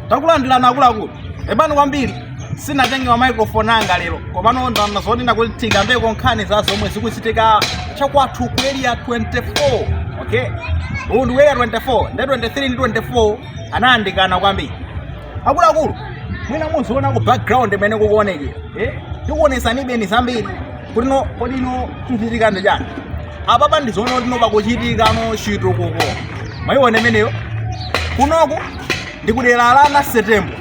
takulandirani akuluakulu pepani kwambiri sinatenge ma microphone anga lero komano ndamva zonena kuti tikambeko nkhani za zomwe zikuchitika chakwathu ku area 24 okay uwu ndi area 24 nde 23 ndi 24 anayandikana kwambiri akuluakulu mwina muziona ku background mmene kukuonekera eh? tikuonesani even zambiri kuti no kodi no kuchitika ndi chani apapa ndizoona kuti no pakuchitika no chitukuko mwayiona imeneyo kunoku ndi kudera la nancy tembo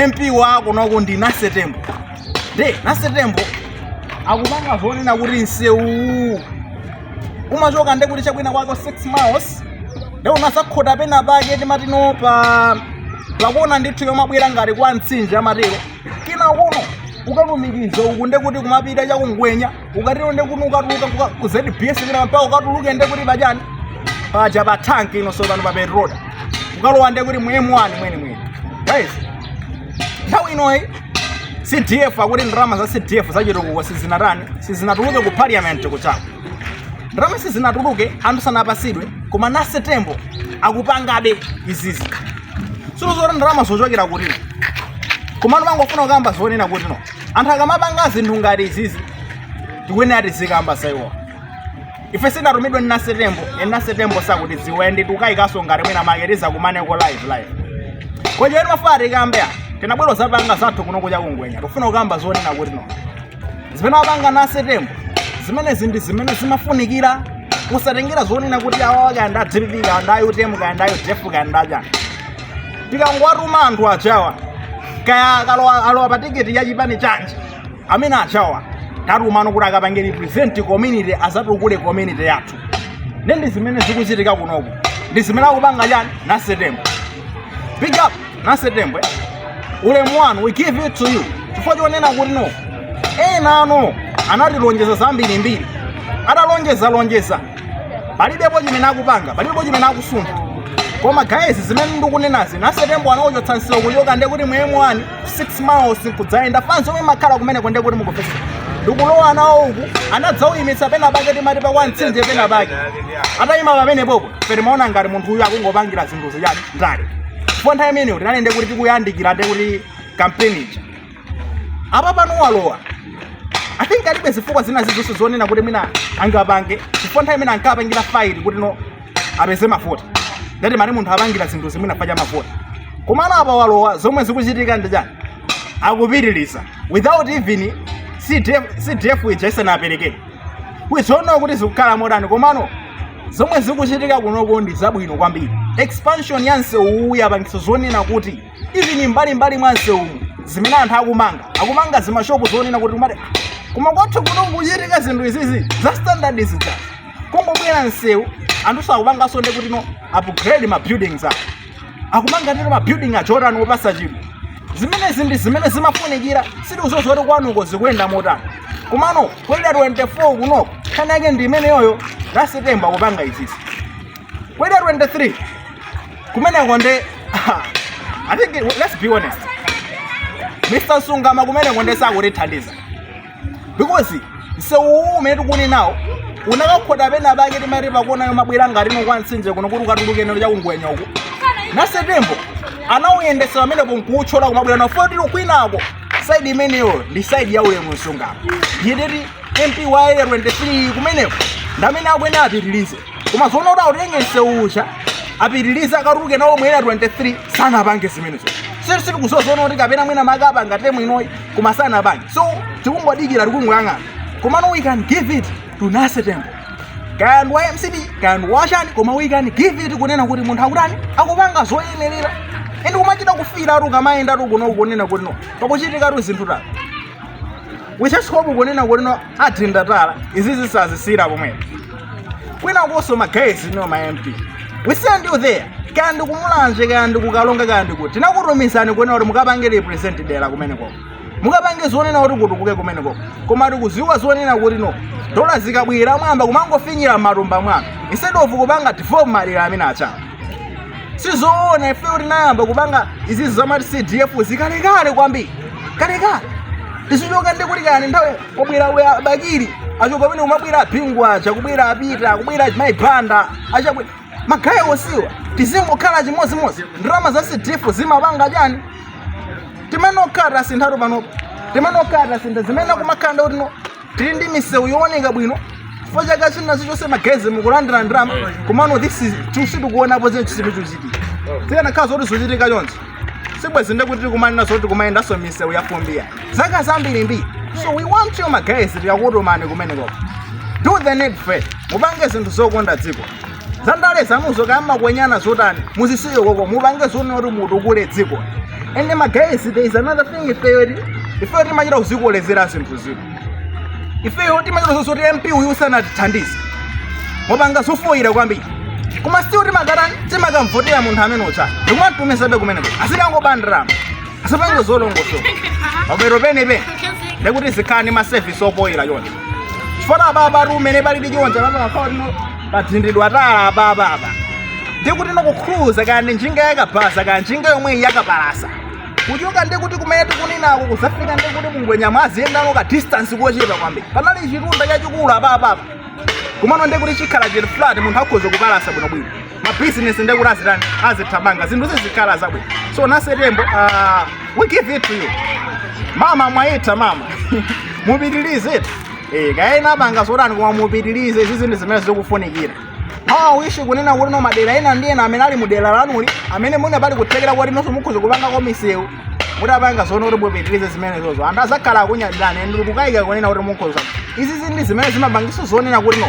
mp wa kunoku ndi nancy tembo nde nancy tembo akupanga zonena kuti msewuwu umachoka nde kuti chakwina kwake 6 miles nde unazakhota pena pake timati no pa pakuona ndithu yomabwera ngati kwa mtsinje amatero kenako no ukalumikiza uku ndekuti kumapita chakungwenya ukatero ndekuti ukatuluka kuka- ku zbs kina mpaka ukatuluke ndekuti pachani paja pa tank ino sopano pa petroda ukalowa ndekuti mu m1 mwene mwene guys nthawi inoyi cdf akuti ndalama za cdf zachitukuko sizinatani sizinatuluke ku parliament kujako ndalama sizinatuluke anthu sanapasidwe koma nancy tembo akupangabe izizi silo zoti ndalama zochokera kuti no komano mangofuna kukamba zonena kuti no anthu akamapanga zinthu ngati izizi tikuyenera tizikamba za iwo ife sinatumidwe ndi nancy tembo even nancy tembo sakutiziwa nde tukayikanso ngati mwina mwake tizakumaneko live live kochero mafuna tikambe a tinabwera zapanga zathu kuno kuja kungwenya tikufuna kukamba zonena kuti no zimene akupanga nancy tembo zimenezi ndi zimene zimafunikira osatengera zonena kuti awawa kaya ndi a dpp kaya ndi a utm kaya ndi a udf kaya ndi achani tikangowatuma anthu ajawa kaya akalowa alowa pa tiketi ya chipani chanji amene ajawa tatuma no kuti akapange represent community azatukule community yathu ndi zimene zikuchitika kunoku ndi zimene akupanga chani nancy tembo big up nancy tembo ulemu wanu we give it to you chifukwa chonena kuti no enano anatilonjeza zambirimbiri atalonjeza lonjeza palibepo chimene akupanga palibepo chimene akusuntha koma guys zimene ndikunenazi nancy tembo anauchotsa msewu kuchoka nde kuti mu m1 6 miles nkudzayenda fans omwe makhala kumeneko nde kuti mukumvesa ndikulowa nawo uku anadzauyimitsa pena pake timati pa kwa mtsinje pena pake atayima pamenepopo timaona ngati munthu uyu akungopangira zinthu zichani ndale chifukwa nthawi imeneyo tinali ndekuti tikuyandikira ndekuti kampeni ija apa pano walowa i think alibe zifukwa zina zizonse zonena kuti mwina angapange chifukwa nthawi imene ankapangira fight kuti no apeze mavoti nde timati munthu apangira zinthu zimenezi fukwa cha mavoti komano apa walowa zomwe zikuchitika ndi chani akupitiriza without even cdf cdf ija isanaperekedwe kwizoona kuti zikukhala motani komano zomwe zikuchitika kunoko ndi zabwino kwambiri expansion ya msewuwu yapangitsa zonena kuti even mbalimbali mwa msewumu zimene anthu akumanga akumanga zimashopu zonena kuti kumati "Ah, koma kwathu kuno kukuchitika zinthu izizi za standard zija kungobwera msewu anthu akupanganso ndi kuti no upgrade ma buildings awo akumanga ndiwo mabuilding aja otani opatsa chidwi zimenezi ndi zimene zimafunikira sitikudziwa kuti kwanuko zikuyenda motani komano ku area 24 kunoko nkhani yake ndi imeneyoyo Nasetembo akupanga izizi ku area 23 kumeneko ndi i think let's be honest Mr Msungama kumenekonso sakutithandiza because msewu uwu umene tikunenawo unakakhota pena pake timati pakona yomabwera ngati ndi kwa mtsinje kuno kuti ukatulukire chakungwenya uko nasetembo anawuyendetsa pamenepo nkuwutchola kumabwera nawo ku 24 kwinako side imeneyo ndi side ya Ulemu Msungama ndiye kuti MP wa area 23 kumeneko ndamene akuyenera apitirize koma zonena kuti autenge msewu uja apitirize akatuluke nawo mu area 23 sanapange zimenezo si sitikudziwa zonena kuti kapena mwina akapanga term inoyi koma sanapange so tikungodikira tikungoyang'ana komano we can give it to Nasetembo kaya ndi wa mcp kaya ndi wachani koma we can give it kunena kuti munthu akutani akupanga zoyenerera ende kumachita kufila ukamayenda kuno kunena kuti no pakuchitikatu zinthu tatu wichasikopo kunena kuti no ndalama izi zisamathere pomwepo kwinakunso ma guys no ma mp we send you there kaya ndikumulanje kaya ndikukalonga kaya ndikuti tinakutumizani kunena kuti mukapange represent dera kumenekoko mukapange zonena kuti kutukuke kumenekoko koma tikudziwa zonena kuti no dola zikabwera mwayamba kumangofinyira m'matumba mwanu instead of kupanga develop madera amene aja sizoona ifeyo tinayamba kupanga izizi zamati cdf zikalekale kwambiri kalekale tizichoka ndi kuti kani nthawi kwabwera uja Bakili achoka pamene kumabwera a Bingu aja kubwera apita kubwera Mayi Banda aja kubwera ma guy onsewa tizingokhala chimodzimodzi ndalama za cdf zimapanga chani tikanakhala tasinthatu panopo tikanakhala tasintha zimene kumakhala ndi kuti no tili ndi misewu yooneka bwino chifukwa chaka china chilichonse ma guys mukulandira ndalama komano this is sitikuonapo zinthu chilichonse chikuchitika zikanakhala zoti zikuchitika chonchi sibwezi ndekuti tikumanena zoti kumayendanso misewu ya fumbiyi zaka zambirimbiri so we want you ma guys tikakutumani kumenekoko do the needful mupange zinthu zokonda dziko zandale zanuzo kumakwenyana zotani muzisiye koko mupange zonena kuti mutukule dziko ende magayezi there is another thing ifeyo ti ifeyo timachita kuzikolezera zinthu zino ifeyo timachita zoti mp uyu sanatithandize akupanga zofoyira kwambiri koma still timakatani timakamvotera munthu amene uja ndikumatumizabe kumeneko azikangopandiramo asapange zolongosoka bwero penepene ndekuti zikhala ndi maservice ofoyira yonse chifukwa apapa mmene palili chonchi apapa akhala pathiridwa tala apapa apa ndikuti no kukhuluza kaya ndi njinga yakabaza kaya njinga yomweyi yakapalasa kuchoka ndikuti kumene tikunenako kuzafika ndikuti mu Ngwenya muziyendano ka distance kochepa kwambiri panali chitunda chachikulu apapa apa komano ndikuti chikhala chili flat munthu akhoza kupalasa bwinobwino mabizinesi ndikuti azitani azithamanga zinthu zizikhala zabwino so nasetembo uh, we give it to you mama mwaitha mama mupitilize Eh, kaya ena apanga zotani koma mupitirize izi zinthu zimene zikufunikira my wish kunena kuti no madera ena ndi ena amene ali mu dera lanuli amene muna pali kuthekera kuti no so mukhoza kupanga ko misewu mutapanga zonena kuti mupitirize zimenezozo anthu azakhala akukunyadilani and sindikukayika kunena kuti mukhoza izi ndi zinthu zimene zimapangisa zonena kuti no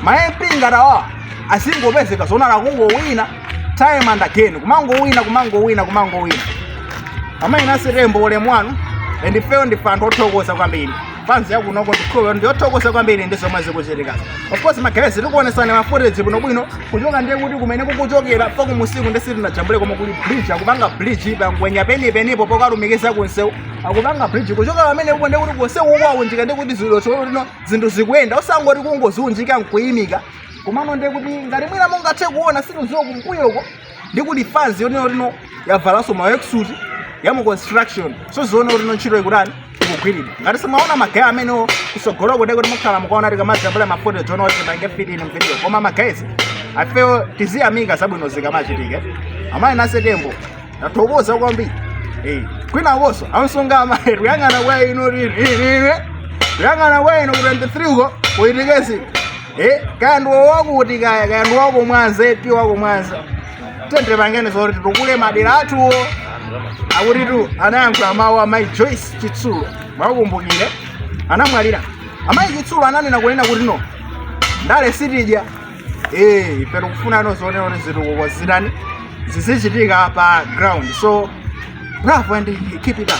ma mp ngati awa azingopezeka zonena akungowina time and again kumangowina kumangowina kumangowina amayi nasetembo ulemu wanu and ifeyo ndife anthu othokoza kwambiri fans ya kunoko ndikhulupirira ndiyothokoza kwambiri ndi zomwe zikuchitikazo of course magayezi tikuonesani mafuteji bwinobwino kuchoka ndiye kuti kumene kukuchokerako kumusiku ndiye sitinajambule koma kuli bridge akupanga bridge pa Ngwenya penipenipo pokalumikiza kunsewu akupanga bridge kuchoka pamene uko ndiye kuti kunsewu ukuunjika ndi kuti zilo cholo lino zinthu zikuyenda osangoti kungoziunjika nkuyimika komano ndiye kuti ngati mwina mungathe kuona sitiuziwa kumbuyoko ndi kuti fans yonena kuti no yavalanso ma worksuit ya mu construction so zonena kuti no ntchito ikutani ikugwiridwa ngati simunaone magaya amenewo kusogoloko ndiye kuti mukhala mukuona tikamajambula mafuteji zonena kuti tipange fit in video koma magayezi ifeyo tiziyamika zabwino zikamachitika amayi nasetembo tathokoza kwambiri Eh, kwina konso a Msungama amayi kuyang'ana kwa inu lini lini kuyang'ana kwa inu ku 23 uko ku Etikezi Eh, kaya ndi wakuti kaya kaya ndi wa ku Mwanza eti wa ku Mwanza tiyeni tipangeni zoti titukule madera athuwa akutitu anayankhula mawu amayi joyce chitsulo muwakumbukire anamwalira amayi chitsulo ananena kunena kuti no ndale sitidya eh ife tikufunano zonena kuti zitukuko zitani zizichitika pa ground so bravo and keep it up